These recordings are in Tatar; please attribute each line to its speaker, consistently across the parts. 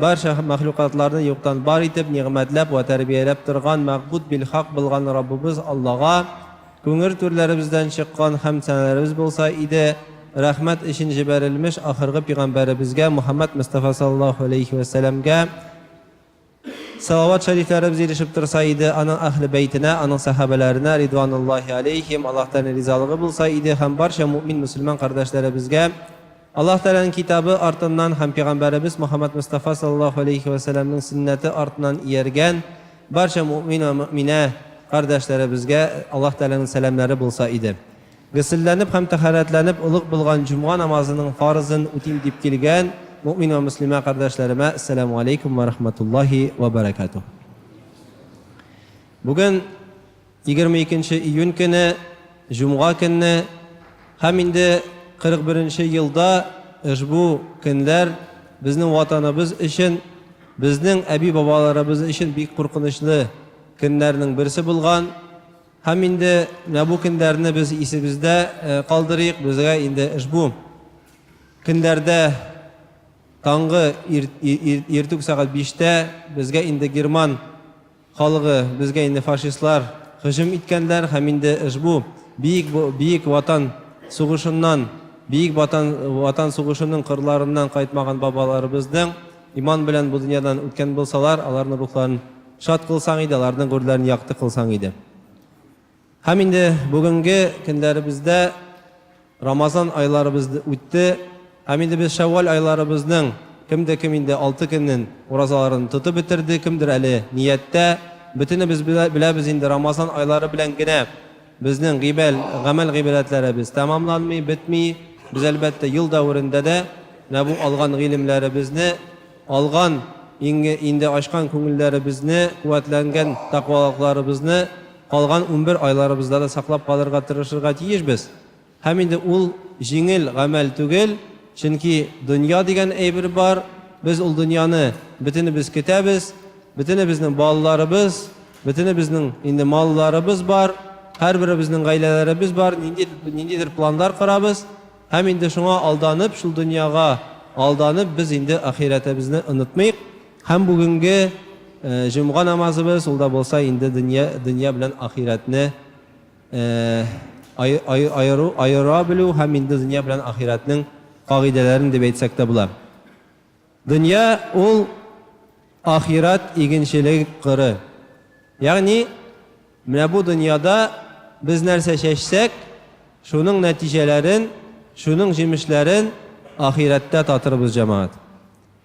Speaker 1: Барча мәхлукатларны юктан бар итеп, нигъмәтләп вә тәрбияләп торган мәгъбүд бил-хак булган Раббыбыз Аллага күңел түрләребездән чыккан хәмд-сәналәребез булса иде, рәхмәт өчен җибәрелмеш ахыргы пигамбәребезгә Мухәммәд Мостафа саллаллаһу галәйһи вә сәламгә салават-шәрифләребез ирешеп торса иде, аның әһле бәйтенә, аның сәхабәләренә, ридвануллаһи галәйһим, Аллаһтан ризалыгы булса иде һәм барча мөэмин-мөселман кардәшләребезгә, Аллаһ Тәгаләнең Китабы артыннан һәм Пәйгамбәребез Мөхәммәд Мостафа салләллаһу галәйһи вә сәлләмнең сөннәте артыннан ияргән барча мөэмин вә мөэминә кардәшләребезгә Аллаһ Тәгаләнең сәламнәре булса иде. Гөселләнеп һәм тәһарәтләнеп олуг булган җомга намазының фарызын үтим дип килгән мөэмин вә мөслимә кардәшләремә Әссәләмү галәйкүм вә рахмәтуллаһи вә бәрәкәтүһ. Бүген. Егерме икенче июнь көне, җомга көнне һәм инде 41 нче елда ошбу көнләр безнең Ватаныбыз өчен, безнең әби-бабаларыбыз өчен бик куркынычлы көннәрнең берсе булган. Һәм инде менә бу көннәрне без исебездә калдырыйк, безгә инде ошбу көннәрдә таңгы иртүк сәгать биштә безгә инде герман Халыгы, безгә инде фашистлар һөҗүм иткәнләр һәм инде ышбу биек биек Ватан сугышыннан, биек Ватан Ватан сугышының кырларыннан кайтмаган бабаларыбызның иман белән бу дөньядан үткән булсалар, аларның рухларын шат кылсаң иде, аларның гүрләрен якты кылсаң иде. Һәм инде бүгенге көннәребездә Рамазан айларыбыз үтте, һәм инде без Шәвваль айларыбызның кемдер кем инде алты көнен уразаларын тотып бетерде, кемдер әле нияттә. Бөтенебез беләбез инде, Рамазан айлары белән генә безнең гыйбәл, гамәл-гыйбадәтләребез тәмамланмый, бетми. Без, әлбәттә, ел дәверендә дә менә бу алган гыйлемнәребезне, алган инде ачкан күңелләребезне, куәтләнгән тәкъвалыкларыбызны, Калган унбер айларыбызда да саклап калырга тырышырга тиешбез. Һәм инде ул җиңел гамәл түгел, чөнки дөнья дигән әйбер бар, без ул дөньяны бөтенебез көтәбез, бөтенебезнең балаларыбыз, бөтенебезнең инде малларыбыз бар, һәрберебезнең гаиләләребез бар, нинди, ниндидер планнар корабыз, һәм инде шуңа алданып, шул дөньяга алданып, без инде ахирәтебезне онытмыйк. Һәм бүгенге җомга намазыбыз, ул да булса инде дөнья дөнья белән ахирәтне ай ай аеру аера белү һәм инде дөнья белән ахирәтнең кагыйдәләрен дип әйтсәк тә була. Дөнья ул ахирәт игенчелег кыры. Ягъни, менә бу дөньяда без нәрсә чәчсәк, шуның нәтиҗәләрен, шуның җимешләрен ахирәттә татырбыз, җәмәгать.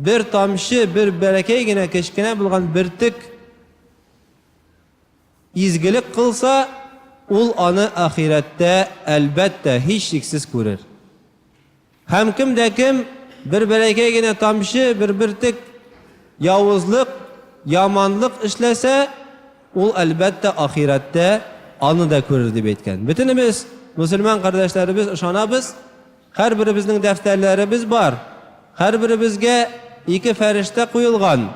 Speaker 1: Бер тамчы, бер бәләкәй генә, кечкенә булган бөртек изгелек кылса, ул аны ахирәттә, әлбәттә, һичшиксез күрер. Һәм кем дә кем бер бәләкәй генә тамчы, бер бөртек явызлык, яманлык эшләсә, ул, әлбәттә, ахирәттә аны да күрер, дип әйткән. Бөтенебез, мөселман кардәшләребез, ышанабыз, Һәрберебезнең дәфтәрләребез бар. Һәрберебезгә ике фәрештә куелган.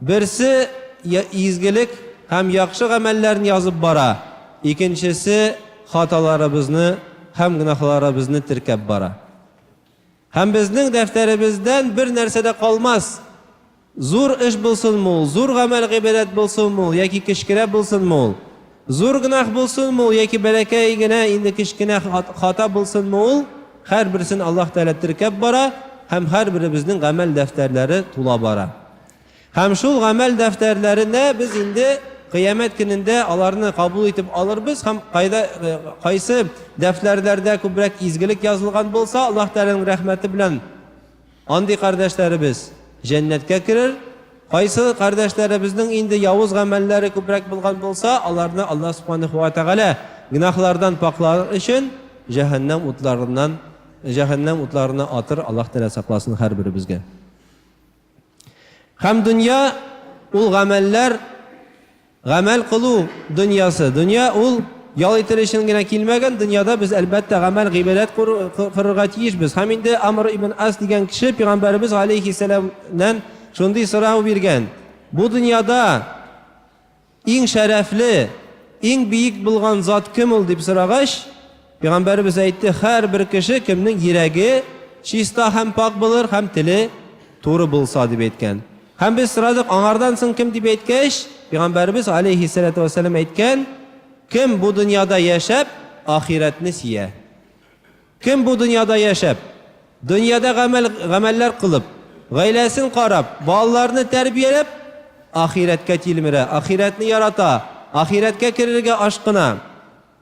Speaker 1: Берсе изгелек һәм яхшы гамәлләрне язып бара, икенчесе хаталарыбызны һәм гөнаһларыбызны теркәп бара. Һәм безнең дәфтәребездән бер нәрсә дә калмас, Зур эш булсынмы ул, зур гамәл-гыйбадәт булсынмы ул, яки кечкерәк булсынмы ул, зур гөнаһ булсынмы ул, яки бәләкәй генә, инде кечкенә хата булсынмы ул, һәрберсен Аллаһ Тәгалә теркәп бара һәм һәрберебезнең гамәл дәфтәрләре тула бара. Һәм шул гамәл дәфтәрләренә без инде Кыямәт көнендә аларны кабул итеп алырбыз һәм кайда, кайсы дәфтәрләрдә күбрәк изгелек язылган булса, Аллаһ Тәгаләнең рәхмәте белән Андый кардәшләребез җәннәткә керер. Кайсы кардәшләребезнең инде явыз гамәлләре күбрәк булган булса, аларны Аллаһ Субханаһу ва Тәгалә гөнаһлардан пакьлар өчен җәһәннәм утларыннан җәһәннәм утларына атыр, Аллаһ Тәгалә сакласын һәрберебезгә. Һәм дөнья, ул гамәлләр. Гамәл кылу дөньясы. Дөнья ул ял итер өчен генә килмәгән, дөньяда без, әлбәттә, гамәл, гыйбадәт кырырга тиешбез. Һәм инде Амр ибн Ас дигән кеше пигамбәребез галәйһиссәламнән шундый сорау биргән, Бу дөньяда иң шәрәфле, иң биек булган зат кем ул? дип сорагач, Пәйгамбәребез әйтте, Һәрбер кеше, кемнең йөрәге чиста һәм пакь булыр һәм теле туры булса, дип әйткән. Һәм без сорадык, Аңардан соң кем? дип әйткәч, Пәйгамбәребез, галәйһиссәләтү вәссәлам, әйткән, Кем бу дөньяда яшәп, ахирәтне сөя. Кем бу дөньяда яшәп, дөньяда гамәл, гамәлләр кылып, гаиләсен карап, балаларны тәрбияләп, ахирәткә тилмерә, ахирәтне ярата, ахирәткә керергә ашкына.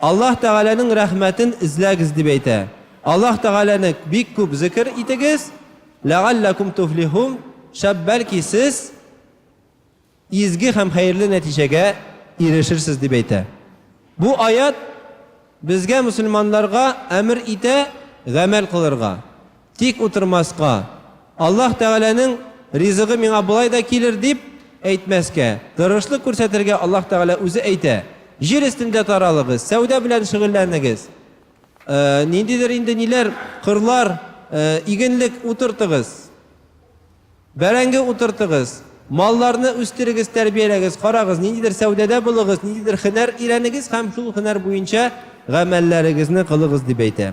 Speaker 1: Аллаһ Тәгаләнең рәхмәтен эзләгез дип әйтә. Аллаһ Тәгаләне бик күп зекер итегез, ләгалләкүм туфлихум, шәп бәлки сез изге һәм хәерле нәтиҗәгә ирешерсез дип әйтә. Бу аять безгә мөселманнарга әмер итә гамәл кылырга, Тик утырмаска, Аллаһ Тәгаләнең ризыгы миңа болай да килер, дип әйтмәскә, тырышлык күрсәтергә Аллаһ Тәгалә үзе әйтә, Җир өстендә таралыгыз, сәүдә белән шөгыльләнегез, ниндидер инде ниләр, кырлар, игенлек утыртыгыз, бәрәңге утыртыгыз, малларны үстерегез, тәрбияләгез, карагыз, ниндидер сәүдәдә булыгыз, ниндидер һөнәр өйрәнегез һәм шул һөнәр буенча гамәлләрегезне кылыгыз, дип әйтә.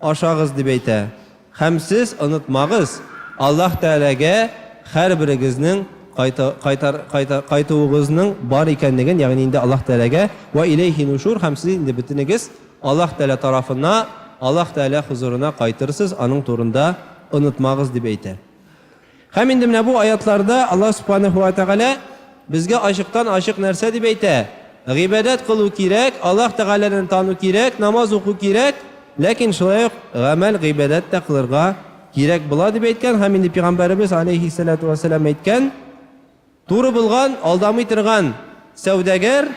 Speaker 1: Ашагыз, дип әйтә. Һәм сез онытмагыз, Аллаһ Тәгаләгә һәрберегезнең кайта, кайтар, кайта, кайтуыгызның бар икәнлеген, ягъни инде Аллаһ Тәгаләгә, вә иләйһи нушур, һәм сез инде бөтенегез Аллаһ Тәгалә тарафына, Аллаһ Тәгалә хозурына кайтырсыз, аның турында онытмагыз, дип әйтә. Һәм инде менә бу аятларда Аллаһ Субханаһу ва Тәгалә безгә ачыктан-ачык нәрсә дип әйтә, гыйбадәт кылу кирәк, Аллаһ Тәгаләне тану кирәк, намаз уку кирәк, ләкин шулай ук гамәл, гыйбадәт тә кылырга кирәк була дип әйткән һәм инде Пигамбәребез аләйһиссәләтү вә сәлам әйткән, Туры булган, алдамый торган сәүдәгәр,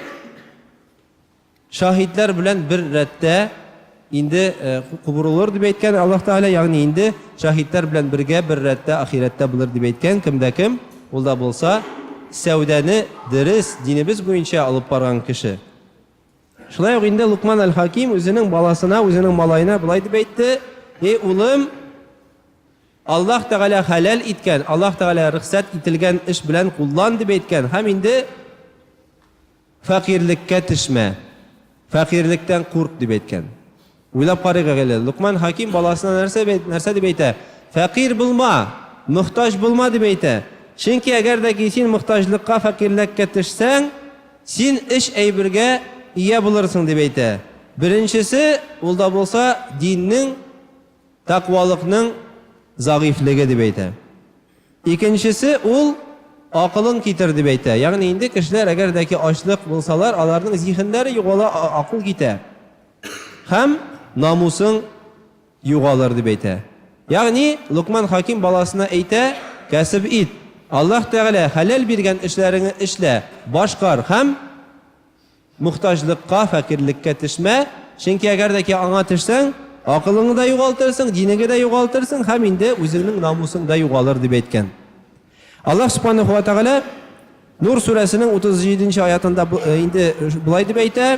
Speaker 1: Шаһитләр белән бер рәттә инде кубурылыр дип әйткән Аллаһ Тәгалә, ягъни инде шаһитләр белән бергә бер рәттә ахирәттә булыр дип әйткән кем дә кем, ул да булса сәүдәне дөрес, динебез буенча алып барган кеше. Шулай ук инде Лукман әл-Хаким үзенең баласына, үзенең малаена болай дип әйтте, Эй улым, Аллаһ Тәгалә хәләл иткән, Аллаһ Тәгалә рөхсәт ителгән эш белән куллан дип әйткән һәм инде Фәкыйрьлеккә төшмә, фәкыйрьлектән курк, дип әйткән. Уйлап карыйк әле, Локман хәким баласына нәрсә нәрсә дип әйтә? Фәкыйрь булма, мохтаҗ булма, дип әйтә. Чөнки әгәр дә ки син мохтаҗлыкка, фәкыйрьләккә төшсәң, син өч әйбергә ия булырсың, дип әйтә. Беренчесе, ул да булса, диннең, тәкъвалыкның зәгыйфьлеге, дип әйтә. Икенчесе ул акылын китер дип әйтә. Ягъни инде кешеләр әгәр дә ки ачлык булсалар, аларның зиһеннәре югала, акыл китә һәм намусың югалыр дип әйтә. Ягъни Локман Хаким баласына әйтә, Кәсеп ит, Аллаһ Тәгалә хәләл биргән эшләреңне эшлә, башкар һәм, Мохтаҗлыкка, фәкыйрьлеккә төшмә, чөнки әгәр дә ки аңа төшсәң, акылыңны да югалтырсың, динеңе дә югалтырсың һәм инде үзеңнең намусың да югалыр, дип әйткән. Аллаһ Субханаһу ва Тәгалә Нур сүрәсенең 37 нче аятында инде болай дип әйтә,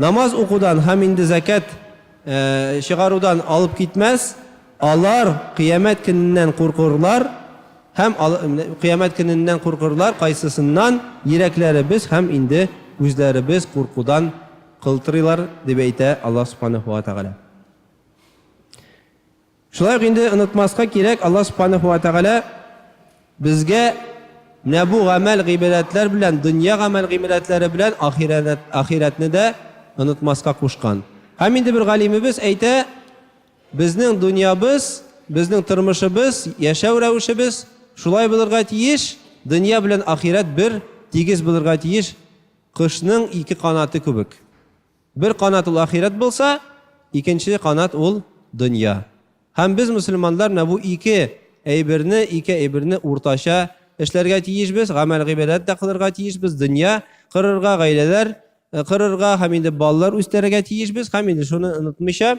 Speaker 1: Намаз укудан һәм инде зәкят чыгарудан алып китмәс, алар Кыямәт көненнән куркырлар һәм Кыямәт көненнән куркырлар, кайсысыннан йөрәкләребез һәм инде үзләребез куркудан кылтырыйлар, дип әйтә Аллаһ Субханаһу ва Тәгалә. Шулай ук инде онытмаска кирәк, Аллаһ Субханәһү вә Тәгалә безгә менә бу гамәл-гыйбадәтләр белән, дөнья гамәл-гыйбадәтләре белән ахирәтне дә онытмаска кушкан. Һәм инде бер галимебез әйтә, Безнең дөньябыз, безнең тормышыбыз, яшәү рәвешебез шулай булырга тиеш, дөнья белән ахирәт бер тигез булырга тиеш, кошның ике канаты күбек. Бер канат ул ахирәт булса, икенче канат ул дөнья. Һәм без мөселманнар менә бу ике әйберне, ике әйберне уртача эшләргә тиешбез, гамәл-гыйбадәт тә кылырга тиешбез, дөнья кырырга, гаиләләр кырырга һәм инде балалар үстерергә тиешбез һәм инде шуны онытмыйча,